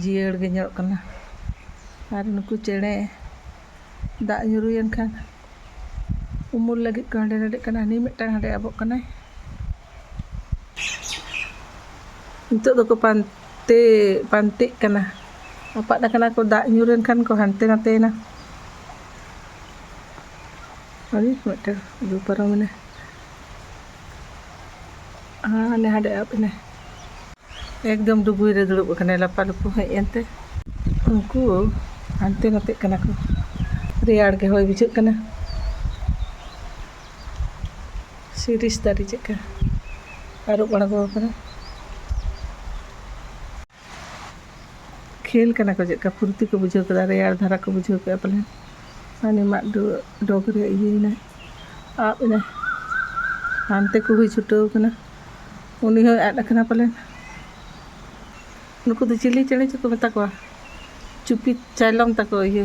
ᱡᱤᱭᱟᱹᱲ ᱜᱮ ᱧᱮᱞᱚᱜ ᱠᱟᱱᱟ ᱟᱨ ᱱᱩᱠᱩ ᱪᱮᱬᱮ ᱫᱟᱜ ᱧᱩᱨᱩᱭᱮᱱ ᱠᱷᱟᱱ ᱩᱢᱩᱞ ᱞᱟᱹᱜᱤᱫ ᱠᱚ ᱦᱟᱸᱰᱮ ᱱᱟᱰᱮᱜ ᱠᱟᱱᱟ ᱦᱟᱹᱱᱤ ᱢᱤᱫᱴᱟᱝ ᱦᱟᱸᱰᱮ ᱟᱵᱚᱜ ᱠᱟᱱᱟᱭ ᱱᱤᱛᱚᱜ ᱫᱚᱠᱚ ᱯᱟᱱᱛᱮ ᱯᱟᱱᱛᱮᱜ ᱠᱟᱱᱟ ᱟᱯᱟᱫ ᱟᱠᱟᱱᱟ ᱠᱚ ᱫᱟᱜ ᱧᱩᱨᱮᱱ ᱠᱷᱟᱱ ᱠᱚ ᱦᱟᱱᱛᱮ ᱱᱟᱛᱮᱭᱮᱱᱟ ᱟᱹᱰᱤ ᱢᱤᱫᱴᱟᱝ ᱨᱩ ᱯᱟᱨᱚᱢᱮᱱᱟ ᱦᱟᱱᱮ ᱦᱟᱸᱰᱮ ᱟᱵ ᱮᱱᱟᱭ ᱮᱠᱫᱚᱢ ᱰᱩᱵᱩᱭ ᱨᱮ ᱫᱩᱲᱩᱵ ᱟᱠᱟᱱᱟᱭ ᱞᱟᱯᱟᱞᱩᱯᱩ ᱦᱮᱡ ᱮᱱᱛᱮ ᱩᱱᱠᱩ ᱦᱟᱱᱛᱮ ᱱᱟᱛᱮᱜ ᱠᱟᱱᱟ ᱠᱚ ᱨᱮᱭᱟᱲ ᱜᱮ ᱦᱚᱭ ᱵᱩᱡᱷᱟᱹᱜ ᱠᱟᱱᱟ ᱥᱤᱨᱤᱥ ᱫᱟᱨᱮ ᱪᱮᱫᱠᱟ ᱟᱹᱨᱩᱵ ᱟᱬᱜᱚ ᱟᱠᱟᱱᱟ ᱠᱷᱮᱞ ᱠᱟᱱᱟ ᱠᱚ ᱪᱮᱫᱠᱟ ᱯᱷᱩᱨᱛᱤ ᱠᱚ ᱵᱩᱡᱷᱟᱹᱣ ᱠᱮᱫᱟ ᱨᱮᱭᱟᱲ ᱫᱷᱟᱨᱟ ᱠᱚ ᱵᱩᱡᱷᱟᱹᱣ ᱠᱮᱫᱟ ᱯᱟᱞᱮᱱ ᱦᱟᱹᱱᱤ ᱢᱟᱫ ᱰᱚᱜᱽ ᱨᱮ ᱤᱭᱟᱹᱭᱮᱱᱟᱭ ᱟᱵ ᱮᱱᱟᱭ ᱦᱟᱱᱛᱮ ᱠᱚ ᱦᱩᱭ ᱪᱷᱩᱴᱟᱹᱣ ᱠᱟᱱᱟ ᱩᱱᱤ ᱦᱚᱸᱭ ᱟᱫ ᱟᱠᱟᱱᱟ ᱯᱟᱞᱮᱱ ᱱᱩᱠᱩ ᱫᱚ ᱪᱤᱞᱤ ᱪᱮᱬᱮ ᱪᱚᱠᱚ ᱢᱮᱛᱟ ᱠᱚᱣᱟ ᱪᱩᱯᱤ ᱪᱟᱭᱞᱚᱢ ᱛᱟᱠᱚ ᱤᱭᱟᱹ